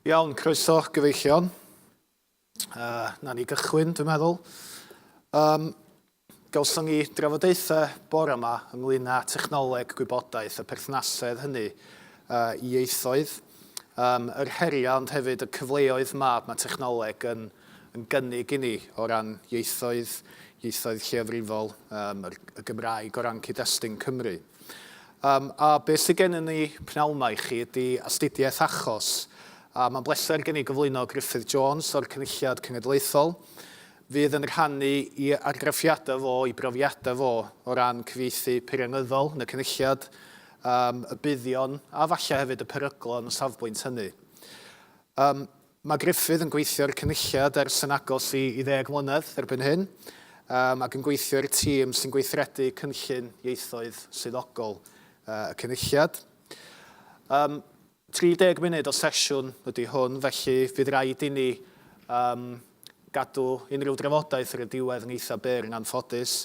Iawn, croeso gyfeillion. Uh, na ni gychwyn, dwi'n meddwl. Um, gawson ni drafodaethau bore yma ynglyn â technoleg gwybodaeth a perthnasedd hynny uh, i ieithoedd. Um, yr heriau ond hefyd y cyfleoedd ma, mae technoleg yn, yn gynnig i ni o ran ieithoedd, ieithoedd lleafrifol, um, y Gymraeg o ran cyd-destun Cymru. Yym, a beth sydd gennym ni p'nawn 'ma i chi ydi astudiaeth achos, a mae'n bleser gen i gyflwyno Gruffydd Jones o'r Cynulliad Cenedlaethol. Fydd yn rhannu i argraffiadau fo, i brofiadau fo o ran cyfieithu peirianyddol yn y Cynulliad, yym, y buddion a falle hefyd y peryglon o safbwynt hynny. Yym, Mae Gruffydd yn gweithio i'r Cynulliad ers yn agos i ddeg mlynedd erbyn hyn ac yn gweithio i'r tîm sy'n gweithredu Cynllun Ieithoedd Swyddogol y Cynulliad. 30 munud o sesiwn ydy hwn, felly fydd raid inni gadw unrhyw drafodaeth ar y diwedd yn eitha' byr yn anffodus.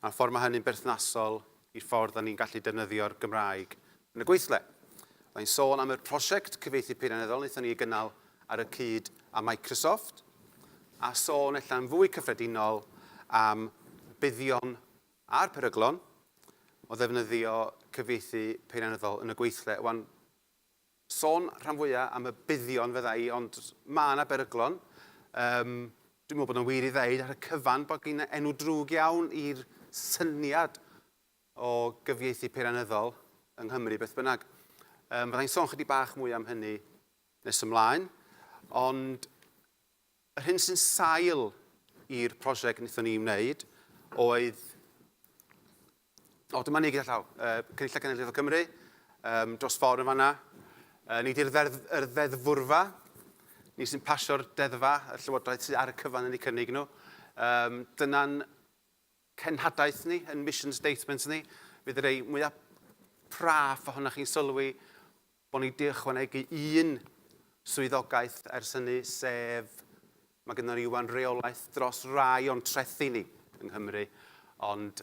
a'r ffordd mae hynny'n berthnasol i'r ffordd dan ni'n gallu defnyddio'r Gymraeg yn y gweithle. Fydda i'n sôn am y prosiect cyfieithu peirianyddol wnaethon ni ei gynnal ar y cyd â Microsoft, a sôn ella'n fwy cyffredinol am y buddion a'r peryglon o ddefnyddio cyfieithu peirianyddol yn y gweithle. Wan, sôn rhan fwya am y buddion fydda i ond ma na beryglon yym dwi'n meddwl bod o'n wir i ddeud ar y cyfan bod gin enw drwg iawn i'r syniad o gyfieithu peirianyddol yng Nghymru beth bynnag yym fydda i'n sôn chydig bach mwy am hynny nes ymlaen ond yr hyn sy'n sail i'r prosiect wnaethon ni wneud oedd O, dyma ni gyda llaw. Uh, Cynulliad Cenedlaethol Cymru, um, dros ffordd yn fanna. Uh, ni di'r ddeddfwrfa, ni sy'n pasio'r deddfa, y llywodraeth sydd ar y cyfan yn ei cynnig nhw. Um, Dyna'n cenhadaeth ni, yn mission statements ni, fydd y rei mwyaf praff ohonoch chi'n sylwi bod ni 'di ychwanegu un swyddogaeth ers hynny, sef mae gynnon ni ŵan reolaeth dros rai o'n trethi ni yng Nghymru, ond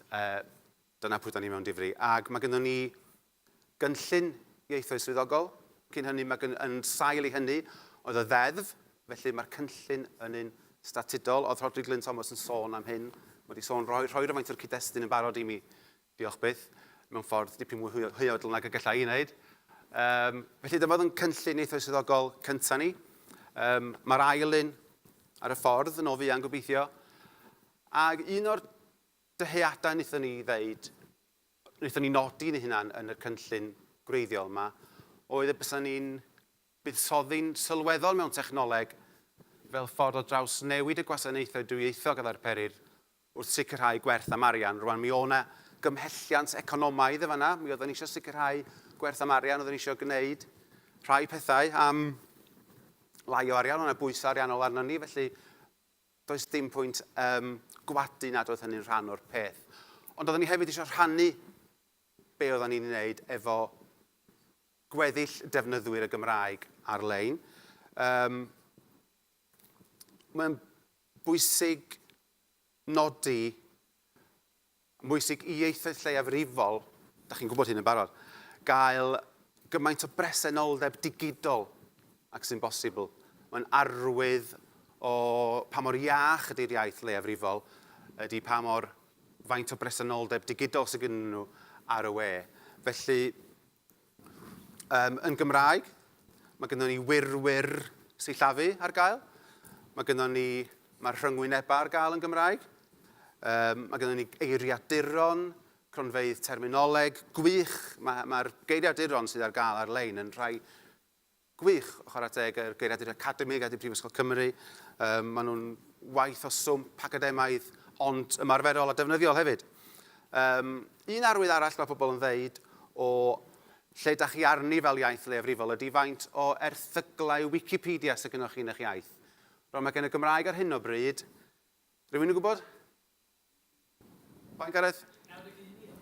dyna pwy 'da ni mewn difri. Ac mae gynnon ni gynllun ieithoedd swyddogol, cyn hynny mae gyn-, yn sail i hynny oedd y Ddeddf, felly mae'r cynllun yn un statudol. Oedd Rhodri Glyn Thomas yn sôn am hyn, mae 'di sôn, rhoi rhoi rywfaint o'r cyd-destun yn barod i mi Diolch byth, mewn ffordd dipyn mwy hwyodl nag y galla i ei wneud. Yym, felly dyma oedd yn cynllun neithiwr swyddogol cynta ni. Yym, mae'r ail un ar y ffordd yn o fuan gobeithio. Ac un o'r dyheadau wnaethon ni ddeud, wnaethon ni nodi ni hunan yn y cynllun gwreiddiol yma, oedd y bysa ni'n buddsoddi'n sylweddol mewn technoleg fel ffordd o draws newid y gwasanaethau dwyieithog a ddarperir wrth sicrhau gwerth am arian. Rwan, mi oedd 'na gymhelliant economaidd yn fan'na, mi oedden ni eisiau sicrhau gwerth am arian, oedden ni eisiau gwneud rhai pethau am lai o arian, oedd 'na bwysau ariannol arno ni, felly does dim pwynt um, gwadu nad oedd hynny'n rhan o'r peth. Ond oedden ni hefyd eisiau rhannu be oedden ni'n wneud efo gweddill defnyddwyr y Gymraeg ar-lein. Um, Mae'n bwysig nodi, mae'n bwysig i ieithoedd lleiafrifol, da chi'n gwybod hyn yn barod, gael gymaint o bresenoldeb digidol ac sy'n bosibl. Mae'n arwydd o pa mor iach ydy'r iaith leiafrifol, ydy pa mor faint o bresenoldeb digidol sydd gyda nhw ar y we. Felly, Yym, yn Gymraeg, mae gynnon ni wirwyr sillafu ar gael. Mae gynnon ni, mae'r rhyngwynebau ar gael yn Gymraeg. Um, mae gynnon ni eiriaduron, cronfeydd terminoleg, gwych. Mae'r mae, geiriaduron sydd ar gael ar-lein yn rhai Gwych, chwarae teg i'r geiriadur academig a di Brifysgol Cymru. Yym, maen nhw'n waith o swmp academaidd, ond ymarferol a defnyddiol hefyd. Yym, un arwydd arall mae pobl yn ddeud o lle da chi arni fel iaith leiafrifol ydi faint o erthyglau Wikipedia sydd gennoch chi yn eich iaith. Rwan, mae gen y Gymraeg ar hyn o bryd, rhywun yn gwybod? Faint Gareth?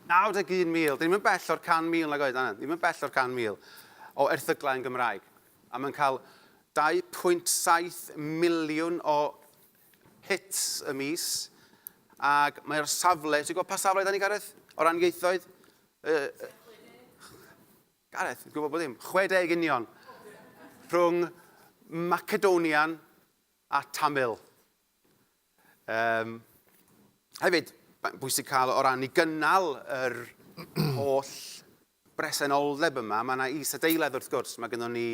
91,000. Dyn ni'm yn bell o'r 100,000 nag oed, na, na, ni'm yn bell o'r 100,000 o erthyglau yn Gymraeg. A mae'n cael 2.7 miliwn o hits y mis, ac mae o'r safle, ti'n gwybod pa safle da ni, Gareth? O ran ieithoedd? Uh, Gareth, ti'n gwybod bod dim? 60 union. Rhwng Macedonian a Tamil. Um, hefyd, mae'n bwysig cael o ran i gynnal yr holl bresenoldeb yma. Mae yna isadeiledd wrth gwrs, mae gennym ni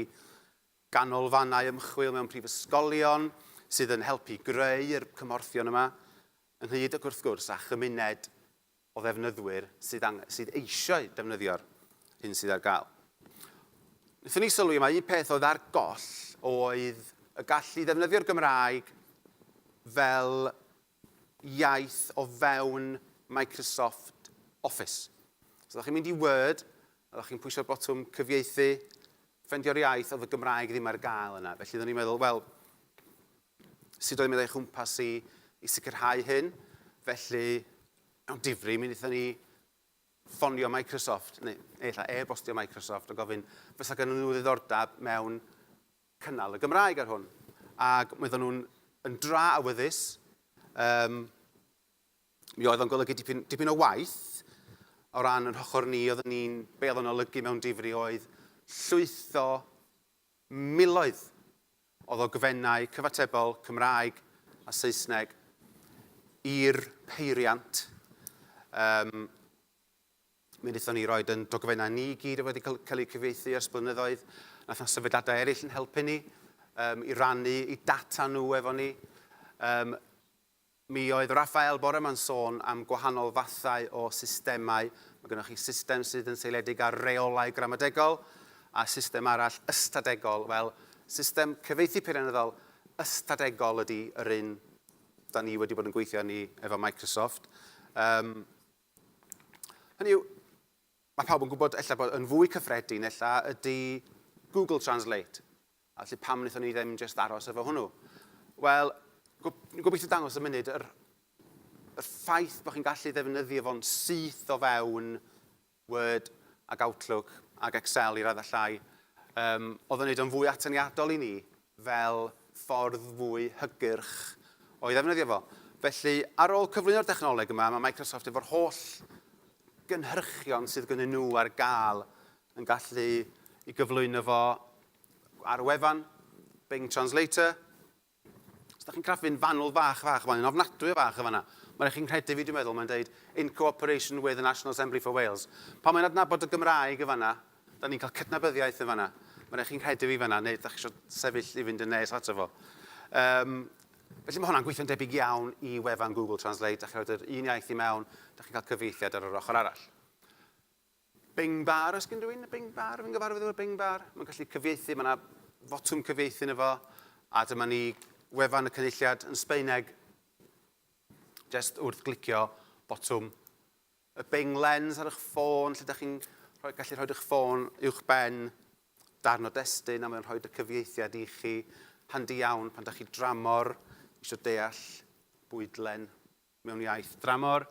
ganolfannau ymchwil mewn prifysgolion sydd yn helpu greu'r cymorthion yma, ynghyd ac wrth gwrs a chymuned o ddefnyddwyr sydd angen, sydd eisiau defnyddio'r hyn sydd ar gael. Nethon ni sylwi mae un peth oedd ar goll oedd y gallu ddefnyddio'r Gymraeg fel iaith o fewn Microsoft Office. Os ydych chi'n mynd i Word, ydych chi'n pwysio'r botwm cyfieithu, ffendio'r iaith oedd y Gymraeg ddim ar gael yna. Felly oeddwn i'n meddwl, wel, Sut oedd mynd o'i chwmpas i i sicrhau hyn? Felly, mewn difri, mi wnaethon ni ffonio Microsoft, neu ella e-bostio Microsoft, a gofyn fysa gen nhw ddiddordeb mewn cynnal y Gymraeg ar hwn. Ac mi oedden nhw'n yn dra awyddus. Um, mi oedd o'n golygu dipyn, dipyn o waith o ran yn hochr ni, oedden ni'n, be oedden olygu mewn difri oedd llwytho Miloedd o ddogfennau cyfatebol Cymraeg a Saesneg i'r peiriant. Yym, mi wnaethon ni roed yn dogfennau ni i gyd oedd wedi cael, cael eu cyfieithu ers blynyddoedd. Nath na sefydliadau eraill yn helpu ni um, i rannu i data nhw efo ni. Um, Mi oedd Rafael bore ma'n sôn am gwahanol fathau o systemau. Mae gynnoch chi system sydd yn seiliedig ar reolau gramadegol a system arall ystadegol. Wel, system cyfieithu peirianyddol ystadegol ydi yr un 'da ni wedi bod yn gweithio arni efo Microsoft. Yym, hynny yw, mae pawb yn gwybod ella bod yn fwy cyffredin ella ydi Google Translate. Felly pam wnaethon ni ddim jyst aros efo hwnnw? Wel, dwi'n gobeithio dangos y munud yr, y ffaith bod chi'n gallu defnyddio fo'n syth o fewn Word ac Outlook ac Excel i raddau llai, um, oedd yn neud o'n fwy atyniadol i ni fel ffordd fwy hygyrch o'i ddefnyddio fo. Felly, ar ôl cyflwyno'r dechnoleg yma, mae Microsoft efo'r holl gynhyrchion sydd gynnyn nhw ar gael yn gallu ei gyflwyno fo ar y wefan, Bing Translator. Os da chi'n craffu'n fanwl fach, fach, mae'n ofnadwy o fach yn fanna. Mae'n rhaid chi'n rhedeg fi, dwi'n meddwl, mae'n dweud in cooperation with the National Assembly for Wales. Pan mae'n adnabod y Gymraeg yn fanna, da ni'n cael cydnabyddiaeth yn fanna. Mae'n rhaid chi'n rhedeg fi fanna, neu da chi eisiau sefyll i fynd yn nes ato fo. Um, felly mae hwnna'n gweithio'n debyg iawn i wefan Google Translate. Da chi'n rhoi yr un iaith i mewn, da chi'n cael cyfeithiad ar yr ochr arall. Bing bar, oes gen rhywun y Bing bar? Fi'n gyfarwydd efo'r Bing bar. Mae'n gallu cyfieithu, mae yna fotwm cyfieithu yn efo. A dyma ni wefan y cynulliad yn Sbeineg. Just wrth glicio botwm y Bing Lens ar eich ffôn, lle da chi'n rhoi, gallu rhoi eich ffôn uwch ben darn o destun a mae'n rhoi y cyfieithiad i chi. Handi iawn pan da chi dramor eisiau deall bwydlen mewn iaith dramor.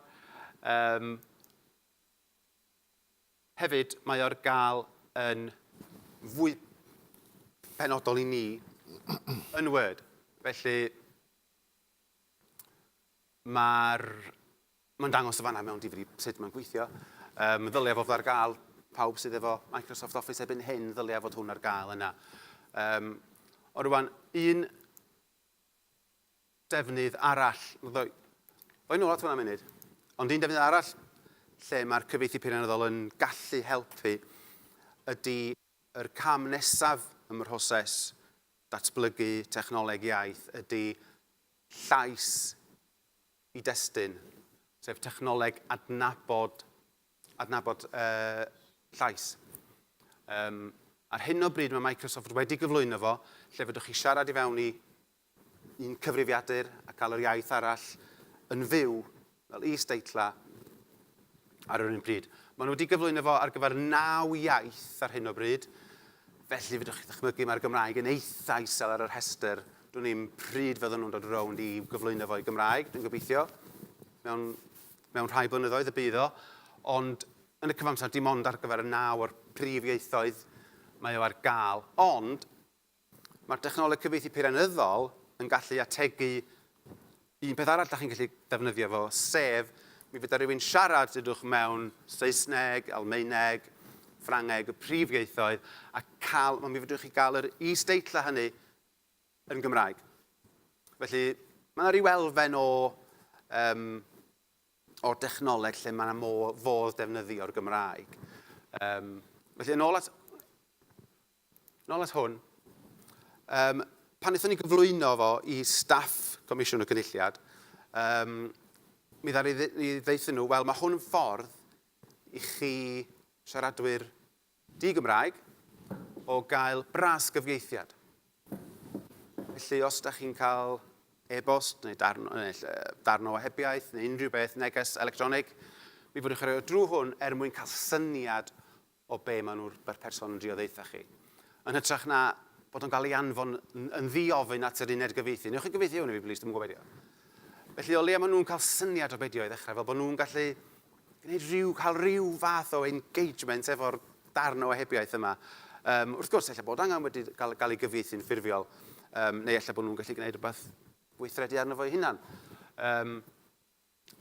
Um, Hefyd, mae o ar gael yn fwy penodol i ni yn Word. Felly, mae'r... mae'n dangos y fanna mewn difri sut mae'n gweithio. Um, ddylia fod ar gael pawb sydd efo Microsoft Office ebyn hyn, ddylia fod hwn ar gael yna. Um, o rwan, un defnydd arall, ddoi ddoi nôl at hwnna munud, ond un defnydd arall lle mae'r cyfieithu peirianyddol yn gallu helpu ydy yr cam nesaf ym mhroses datblygu technoleg iaith ydy llais i destun, sef technoleg adnabod adnabod uh, llais. Um, ar hyn o bryd mae Microsoft wedi gyflwyno fo, lle fedrwch chi siarad i fewn i Un cyfrifiadur a cael yr iaith arall yn fyw fel is-deitlau ar yr un pryd. Maen nhw wedi gyflwyno fo ar gyfer naw iaith ar hyn o bryd, felly fedrwch chi ddychmygu mae'r Gymraeg yn eitha isel ar y rhestr. Dwn i'm pryd fydden nhw'n dod rownd i gyflwyno fo i Gymraeg, dwi'n gobeithio. Mewn, mewn rhai blynyddoedd y bydd o, ond yn y cyfamser dim ond ar gyfer y naw o'r prif ieithoedd mae o ar gael. Ond Mae'r dechnoleg cyfieithu peirianyddol yn gallu ategu un peth arall da chi'n gallu defnyddio fo, sef mi fydda rhywun siarad dydwch mewn Saesneg, Almaeneg, Ffrangeg, y prif ieithoedd, a cael, mi fedrwch chi gael yr is-deitlau hynny yn Gymraeg. Felly, mae yna rhyw elfen o, um, o dechnoleg lle mae yna fodd defnyddio'r Gymraeg. Um, felly, yn ôl at Nôl at hwn. Yym, pan wnaethon ni gyflwyno fo i staff Comisiwn y Cynulliad, um, mi dda ni ddeithyn nhw, wel, mae hwn yn ffordd i chi siaradwyr di-Gymraeg o gael bras gyfieithiad. Felly, os da chi'n cael e-bost neu darn, darn o hebiaeth neu unrhyw beth, neges electronig, mi fydwch chi'n rhoi o drwy hwn er mwyn cael syniad o be maen nhw'r ber person yn drio ddeutha chi. Yn hytrach na bod o'n cael ei anfon yn ddi-ofyn at yr uned gyfieithu. Newch chi gyfieithu hwn i fi, please, dwi'n gwybod beth Felly, o leia maen nhw'n cael syniad o beidio i ddechrau, fel bod nhw'n gallu gwneud rhyw, cael rhyw fath o engagement efo'r darn o ohebiaeth yma. Um, wrth gwrs, efallai bod angen wedi cael, cael ei gyfieithu'n ffurfiol, um, neu efallai bod nhw'n gallu gwneud rhywbeth gweithredu arno fo'i hunan. Um,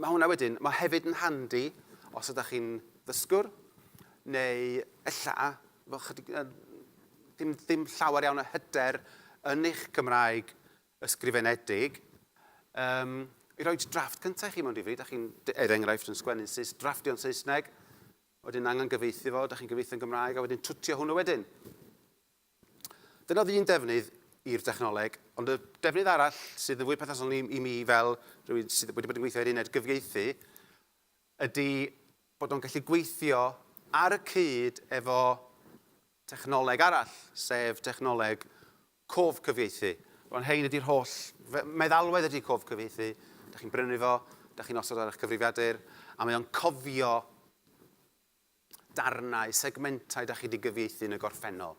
Mae hwnna wedyn, mae hefyd yn handi os ydych chi'n ddysgwr, neu ella fel chydig, ddim, ddim llawer iawn o hyder yn eich Cymraeg ysgrifenedig, um, i roi drafft cyntaf i chi mewn difri, da chi'n, er enghraifft, yn sgwennu Saes, drafftio'n Saesneg, wedyn angen gyfeithi fo, da chi'n gyfeithi yn Gymraeg, a wedyn twtio hwnnw wedyn. Dyna oedd un defnydd i'r dechnoleg, ond y defnydd arall sydd yn fwy perthnasol i, i mi fel rhywun sydd wedi bod yn gweithio i'r uned gyfieithu, ydy bod o'n gallu gweithio ar y cyd efo technoleg arall, sef technoleg cof cyfieithu. Rwan hein ydy'r holl meddalwedd ydy cof cyfieithu. Da chi'n brynu fo, da chi'n osod ar eich cyfrifiadur, a mae o'n cofio darnau, segmentau da chi 'di gyfieithu yn y gorffennol.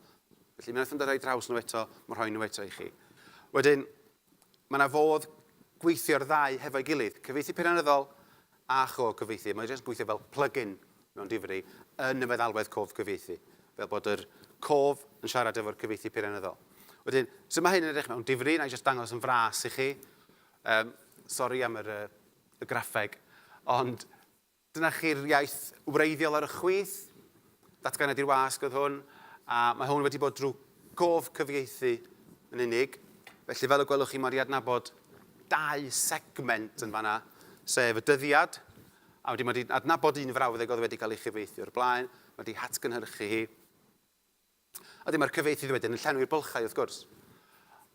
Felly mi wnaethon nhw ddod a'i draws nhw eto, ma' rhoi nhw eto i chi. Wedyn, mae yna fodd gweithio'r ddau hefo'i gilydd, cyfieithu peirianyddol a cho-gyfieithu. Mae o jyst yn gweithio fel plug-in mewn difri yn y meddalwedd cof cyfieithu, fel bod yr cof yn siarad efo'r cyfieithu peirianyddol. Wedyn, sut mae hyn yn edrych mewn difri? Wna i jyst dangos yn fras i chi. Um, sori am yr, uh, y graffeg, ond Dyna chi'r iaith wreiddiol ar y chwith. Datganiad i'r wasg oedd hwn, a mae hwn wedi bod drwy gof cyfieithu yn unig. Felly, fel y gwelwch chi, mae wedi adnabod dau segment yn fanna, sef y dyddiad, a wedyn mae wedi adnabod un frawddeg oedd wedi cael ei chyfieithu o'r blaen, mae wedi hatgynhyrchu hi. Ydy, mae'r cyfieithydd wedyn yn llenwi'r bylchau, wrth gwrs.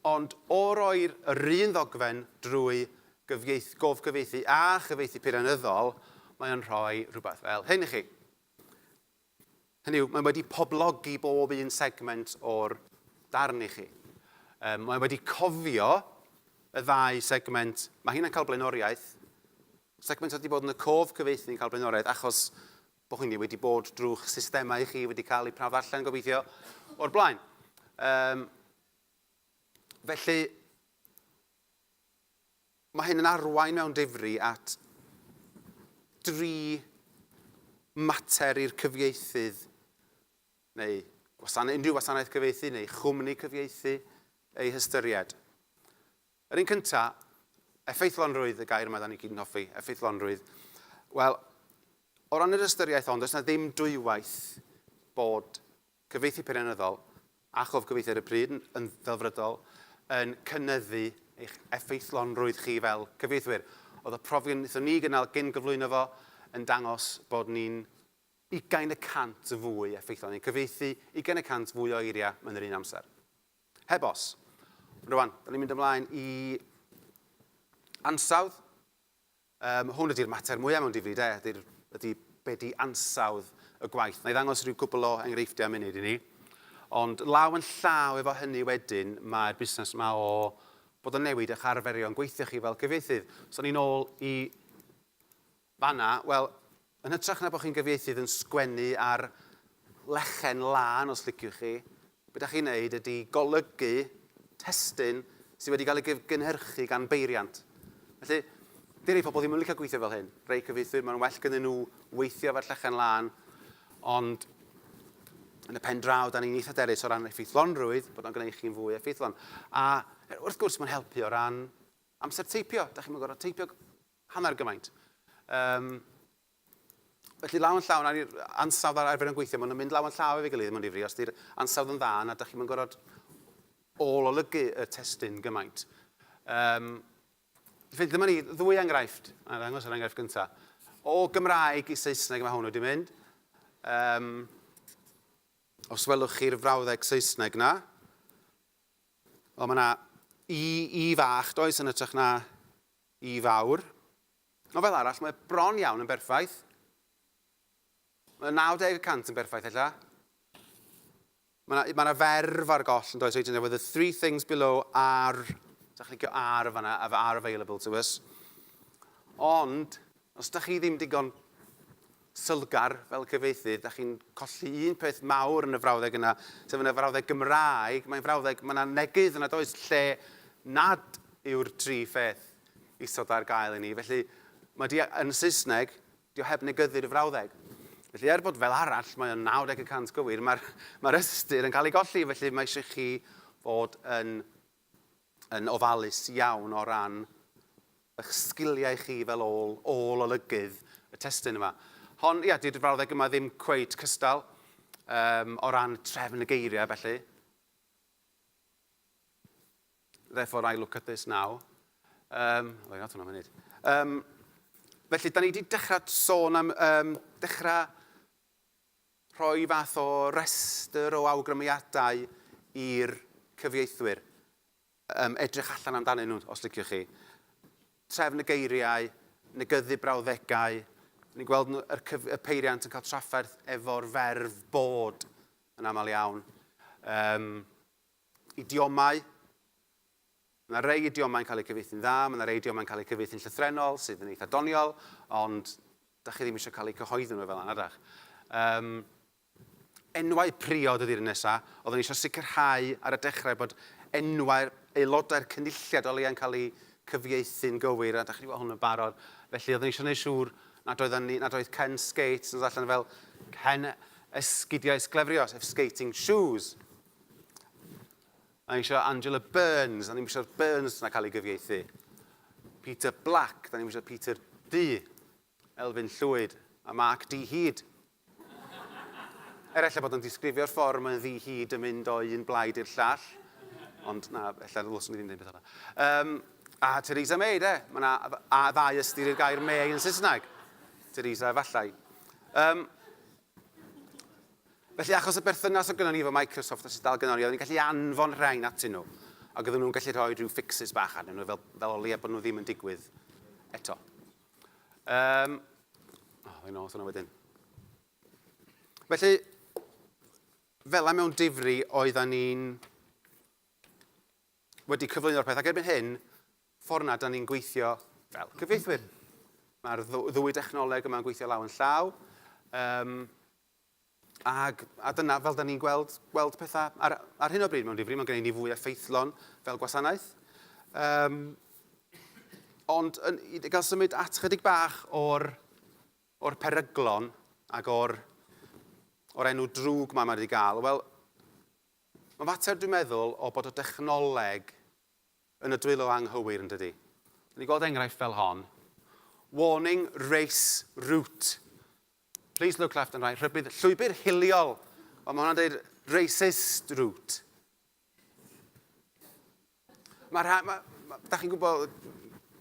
Ond o roi'r yr un ddogfen drwy gyfieith, gofgyfieithu a chyfieithu peirianyddol, mae o'n rhoi rhywbeth fel hyn i chi. Hynny yw, mae wedi poblogi bob un segment o'r darn i chi. Um, mae wedi cofio y ddau segment, mae hyn yn cael blaenoriaeth, segment oedd wedi bod yn y cof cyfeithi yn cael blaenoriaeth achos Bo hynny wedi bod drw'ch systemau chi wedi cael eu prawf allan, gobeithio, o'r blaen. Um, felly, mae hyn yn arwain mewn difri at dri mater i'r cyfieithydd neu gwasanaeth, unrhyw wasanaeth cyfieithu neu chwmni cyfieithu ei hystyried. Yr un cynta, effeithlonrwydd y gair yma 'da ni gyd yn hoffi, effeithlonrwydd. Wel, o ran yr ystyriaeth hon, does 'na ddim dwywaith bod cyfieithu peirianyddol a chof gyfieithu ar y pryd, yn ddelfrydol, yn cynyddu eich effeithlonrwydd chi fel cyfieithwyr. Oedd y profion wnaethon ni gynnal cyn gyflwyno fo yn dangos bod ni'n ugain y cant yn fwy effeithlon, ni'n cyfieithu ugain y cant fwy o eiriau mewn yr un amser. Heb os. Rwan, da ni'n mynd ymlaen i ansawdd. Um, hwn ydy'r mater mwyaf mewn difri, de, ydy, ydy be di ansawdd y gwaith. Na i ddangos rhyw gwbl o enghreifftiau munud i ni. Ond law yn llaw efo hynny wedyn, mae'r busnes yma o bod yn newid eich arferion gweithio chi fel cyfieithydd. So ni'n ôl i Fanna, wel, yn hytrach na bod chi'n gyfieithydd yn sgwennu ar lechen lân, os liciwch chi, be da chi'n wneud ydy golygu testun sydd wedi cael ei gynhyrchu gan beiriant. Felly, di rei pobl ddim yn licio gweithio fel hyn. Rei cyfieithwyr, mae'n well gyda nhw weithio efo'r llechen lân, ond yn y pen draw, da ni'n eitha derus o ran effeithlonrwydd, bod o'n gwneud chi'n fwy effeithlon. A wrth gwrs, mae'n helpu o ran amser teipio. Da chi'n mynd gorau teipio Hanner gymaint. Yym. Felly law yn llaw, nawr i'r ansawdd a'r arfer yn gweithio, maen nhw'n mynd law yn llaw efo'i gilydd mewn difri, os ydy'r ansawdd yn dda, na dych chi'm yn gorfod ôl-olygu y testun gymaint. Yym. Felly dyma ni, ddwy enghraifft, a ddangos yr enghraifft gyntaf. O Gymraeg i Saesneg mae hwn wedi mynd. Yym. Os welwch chi'r frawddeg Saesneg na. O, mae yna i, i fach, does, yn ytrach na Y fawr. Ond fel arall, mae bron iawn yn berffaith. Mae 90 y cant yn berffaith, ella. Mae yna ma ferf ar goll yn does wedyn, efo the three things below are... Sa clicio ar o fanna, are available to us. Ond, Os dach chi ddim digon sylgar fel cyfieithydd, dach chi'n colli un peth mawr yn y frawddeg yna, sef yn y frawddeg Gymraeg, mae'n frawddeg, mae yna neges nad oes lle nad yw'r tri pheth isod ar gael i ni, felly mae di, yn y Saesneg, di o heb negyddu'r frawddeg. Felly er bod fel arall mae o'n 90 y cant gywir, mae'r mae'r ystyr yn cael ei golli, felly mae eisiau chi fod yn yn ofalus iawn o ran eich sgiliau chi fel ôl, ôl olygydd y testun yma. Hon, ia, dydy'r frawddeg yma ddim cweit cystal um, o ran trefn y geiriau felly. Therefore I look at this now. Um, o, ia, hwnna mynd. Um, felly, da ni wedi dechrau sôn am um, dechrau Rhoi fath o restr o awgrymiadau i'r cyfieithwyr, yym, edrych allan amdanyn nhw, os liciwch chi. Trefn y geiriau, negyddu brawddegau, ni'n gweld yr cyf-, y peiriant yn cael trafferth efo'r ferf bod yn aml iawn. Yym, idiomau. Mae 'na rei idiomau'n cael eu cyfieithu'n dda, mae 'na rei idiomau'n cael eu cyfieithu'n llythrennol, sydd yn eitha' doniol, ond 'dach chi ddim eisiau cael eu cyhoeddi nhw fel 'na, na 'dach? Yym, enwau priod ydi'r un nesa'. Oeddwn i eisiau sicrhau ar y dechrau bod enwau'r aelodau'r Cynulliad o leia'n cael eu cyfieithu'n gywir, a 'dach chi 'di gweld hwn yn barod, felly oeddwn i eisiau gwneud siŵr nad oeddan ni, nad oedd Ken Skates yn dod allan fel Ken Esgidiau Sglefrio, sef Skating Shoes. Da ni isio Angela Burns, da ni'm isio'r Burns na cael ei gyfieithu. Peter Black, da ni'm isio Peter Du, Elfyn Llwyd a Mark Dee Hyd. Er ella bod o'n disgrifio'r ffordd mae'n ddi hyd yn mynd o un blaid i'r llall, ond na, ella ddylswn i ddim dweud beth yna. Um, a Theresa May, de, mae yna a ddau ystyr i'r gair May yn Saesneg. Theresa efallai. Um, Felly, achos y berthynas o gynnon ni efo Microsoft a sut dal gynnon ni, oeddwn ni'n gallu anfon rhain atyn nhw, ac oedden nhw'n gallu rhoi rhyw fixes bach arnyn nhw fel, fel o leia bod nhw ddim yn digwydd eto. Um, o, oh, yn ôl hwnna wedyn. Felly, fel mewn difri, oedden ni'n wedi cyflwyno'r peth ac erbyn hyn, ffordd na dan ni'n gweithio fel cyfieithwyr. Mae'r ddwy dechnoleg yma'n gweithio law yn llaw. Um, ag, a dyna fel da ni'n gweld, gweld pethau ar, ar hyn o bryd mewn difri, mae'n gwneud ni fwy effeithlon fel gwasanaeth. Um, ond yn, i gael symud at chydig bach o'r, or peryglon ac o'r, or enw drwg mae wedi gael, wel, Mae'n fater, dwi'n meddwl, o bod y dechnoleg yn y dwylo anghywir, yn dydi? Dyn ni'n gweld enghraifft fel hon. Warning race route. Please look left and right. Rhybudd, llwybr hiliol. Ond mae hwnna'n dweud racist route. Mae rha... Mae... Mae... Da chi'n gwybod,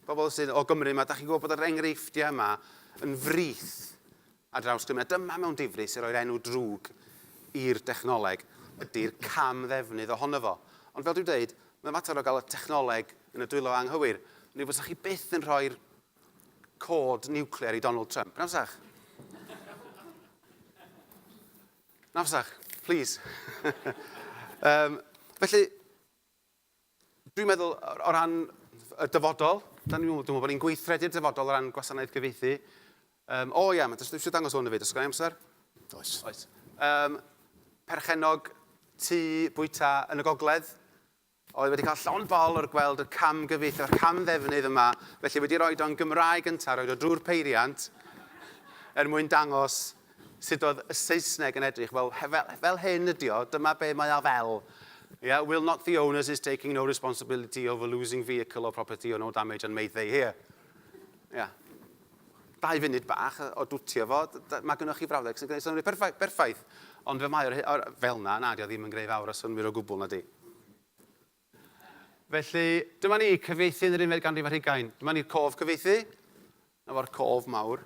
pobl sydd o Gymru yma, da chi'n gwybod bod yr enghreifftiau yma yn frith ar draws Gymru. A dyma mewn difri sy'n rhoi'r enw drwg i'r dechnoleg ydy'r cam ddefnydd ohono fo. Ond fel dwi'n dweud, mae'n fater o gael y technoleg yn y dwylo anghywir. Neu fysa chi byth yn rhoi'r cod niwclear i Donald Trump, na fysach? Na fysach, please. um, felly, Dwi'n meddwl o ran y dyfodol, da ni'n meddwl bod ni'n gweithredu'r dyfodol o ran gwasanaeth gyfieithu. Um, o ia, mae dysgu eisiau dangos hwn y fyd, os gael amser? Oes. Oes. Um, perchenog tu bwyta yn y gogledd, oedd wedi cael llon bol o'r gweld y cam gyfieithu, o'r cam ddefnydd yma, felly wedi rhoi o'n Gymraeg gyntaf, rhoi o drwy'r peiriant, er mwyn dangos Sut oedd y Saesneg yn edrych? Wel, fel hyn ydi o, dyma be mae o fel. Yeah, will not the owners is taking no responsibility over losing vehicle or property or no damage and made they here. Yeah. Dau funud bach o dwtio fo, mae gennych chi frawddeg sy'n gwneud synnwyr perffaith, perffaith. Ond fe mae o'r, fel na, na, di o ddim yn greu fawr o synnwyr o gwbl na di. Felly, dyma ni, cyfeithi yn yr unfed ganrif ar hugain. Dyma ni'r cof cyfeithi. Na fo'r cof mawr.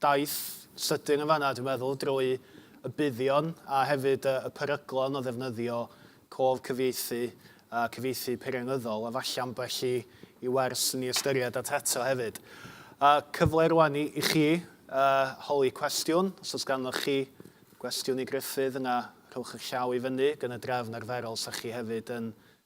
daith sydyn yn fan'na dwi'n meddwl, drwy y buddion a hefyd y y peryglon o ddefnyddio cof cyfieithu a cyfieithu peirianyddol, a falle ambell i i wers i ni ystyried at eto hefyd. A cyfle rwan i i chi yy holi cwestiwn, os o's ganddoch chi gwestiwn i Gruffydd yna rhowch 'ych llaw i fyny, gan y drefn arferol 'sach chi hefyd yn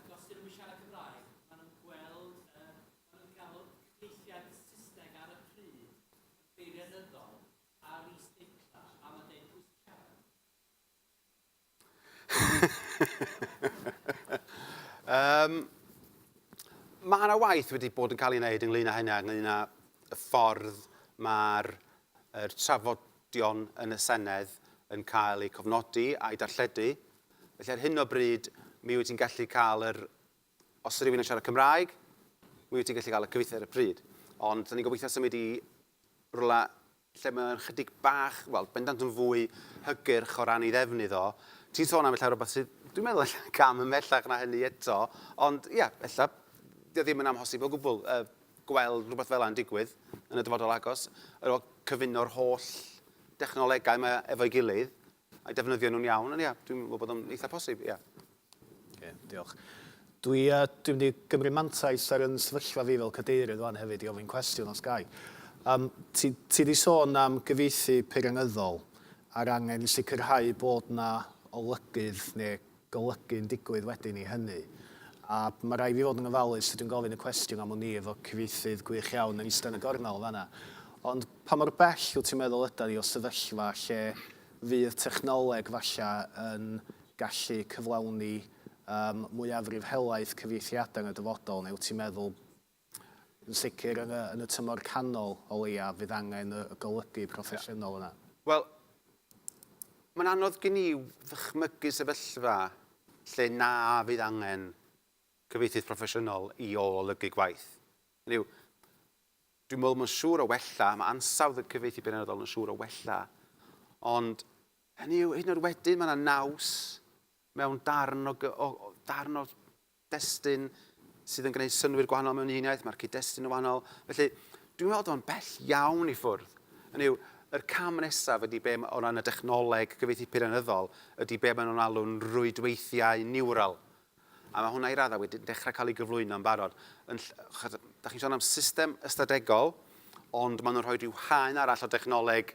Ac os 'dyn nhw'm yn siarad Cymraeg, ma' nhw'n gweld y... ma' nhw'n cael cyfieithiad Saesneg ar y pryd yn beirianyddol ar is-deitlau a ma'n deud pwy sy'n siarad. um, mae yna waith wedi bod yn cael ei wneud ynglyn â hynny, ynglyn â y ffordd mae'r er trafodion yn y Senedd yn cael eu cofnodi a'i darlledu Felly ar hyn o bryd, mi wyt ti'n gallu cael yr... Os rhywun yn siarad Cymraeg, mi wyt ti'n gallu cael y cyfieithu ar y pryd. Ond da ni'n gobeithio symud i rola lle mae'n chydig bach, wel, bendant yn fwy hygyrch o ran ei ddefnydd o. Ti'n sôn am ella rhywbeth sydd, dwi'n meddwl ella cam ymhellach na hynny eto, ond ia, yeah, ella, dio ddim yn amhosib o gwbl uh, gweld rhywbeth fel yna'n digwydd yn y dyfodol agos, yr o cyfuno'r holl dechnolegau mae efo'i gilydd, I defnyddio nhw'n iawn, ond ia, dwi'n meddwl bod o'n eitha posib, ia. Oce, diolch. Dwi, uh, dwi'n mynd i gymryd mantais ar yn sefyllfa fi fel cadeirydd fan hefyd i ofyn cwestiwn os gai. Um, ti, ti di sôn am gyfieithu peirianyddol a'r angen i sicrhau bod na olygydd neu golygu'n digwydd wedyn i hynny. A ma' raid fi fod yn ofalus sut dwi'n gofyn y cwestiwn am wn i efo cyfieithydd gwych iawn yn ista yn y gornel yn fan'na. Ond pa mor bell wt ti'n meddwl ydan ni o sefyllfa lle fydd technoleg falla yn gallu cyflawni yym mwyafrif helaeth cyfieithiadau yn y dyfodol neu wt ti'n meddwl Yn sicr, yn y, yn y tymor canol, o leiaf, fydd angen y, y golygu proffesiynol yna. Wel, mae'n anodd gen i ddychmygu sefyllfa lle na fydd angen cyfieithydd proffesiynol i olygu gwaith. Hynny yw, dwi'n meddwl mae'n siŵr o wella, mae ansawdd y cyfieithu penodol yn siŵr o wella, ond hynny yw, hyd yn oed wedyn, mae yna naws mewn darn o, o, darn o destun sydd yn gwneud synnwyr gwahanol mewn un iaith, mae'r cyd-destun yn wahanol. Felly, dwi'n meddwl o'n bell iawn i ffwrdd. Yn yw, yr cam nesaf ydy be o ran y dechnoleg gyfeithi peirianyddol, ydy be maen nhw'n alw'n rwydweithiau niwral. A mae hwnna i raddau wedi dechrau cael ei gyflwyno yn barod. Yn, da chi'n sôn am system ystadegol, ond maen nhw'n rhoi rhyw haen arall o dechnoleg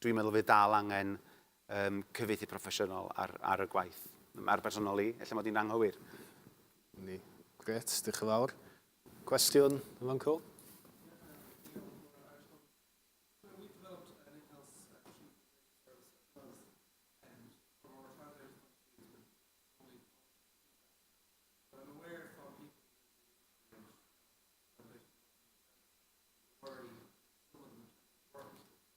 Dwi'n meddwl fydd dal angen yym cyfieithu proffesiynol ar ar y gwaith. Ar bersonol i, ella mod i'n anghywir. Ni. Grêt, diolch yn fawr. Cwestiwn yn fan 'co?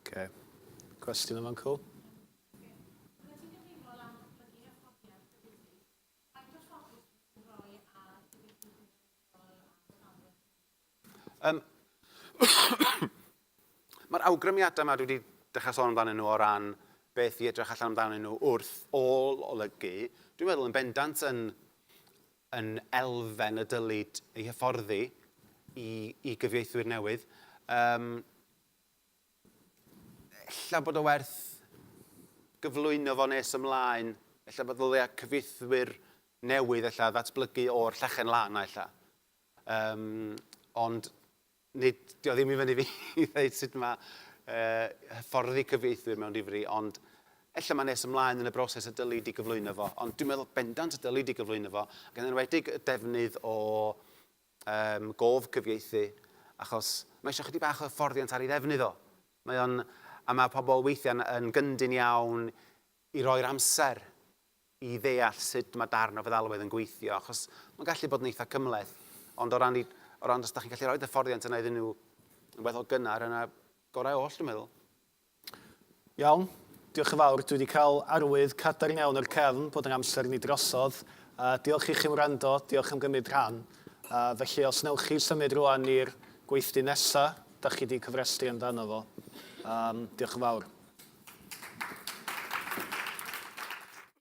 Ok. Cwestiwn am Uncle? Yym Mae'r awgrymiadau yma dwi wedi dechrau sôn amdanyn nhw o ran beth i edrych allan amdanyn nhw wrth ôl olygu, dwi'n meddwl yn bendant yn, yn elfen y dylid ei hyfforddi i, i gyfieithwyr newydd. Um, Ella bod o werth gyflwyno fo nes ymlaen, ella bod ddylia cyfieithwyr newydd ella ddatblygu o'r llechen lan 'na ella. Yym, ond nid, dio ddim i fyny fi i ddeud sut mae uh, hyfforddi cyfieithwyr mewn difri, ond ella mae nes ymlaen yn y broses y dyli di gyflwyno fo, ond dwi'n meddwl bendant y dyli di gyflwyno fo, ac yn enwedig y defnydd o Ym gof cyfieithu, achos mae eisiau chydig bach o hyfforddiant ar ei ddefnydd o. Mae o'n... a mae pobl weithiau yn gyndyn iawn i roi'r amser i ddeall sut mae darn o feddalwedd yn gweithio, achos mae'n gallu bod yn eitha cymhleth. Ond o ran i... o ran os da chi'n gallu rhoid hyfforddiant yna iddyn nhw yn weddol gynnar, yna gorau oll dwi'n meddwl. Iawn, diolch yn fawr. Dwi wedi cael arwydd cadarn iawn o'r cefn bod ein amser ni drosodd. Uh, diolch i chi am wrando, diolch am gymryd rhan. Uh, felly, os newch chi symud rwan i'r gweithdy nesa, da chi wedi cyfrestru amdano fo. Um, diolch yn fawr.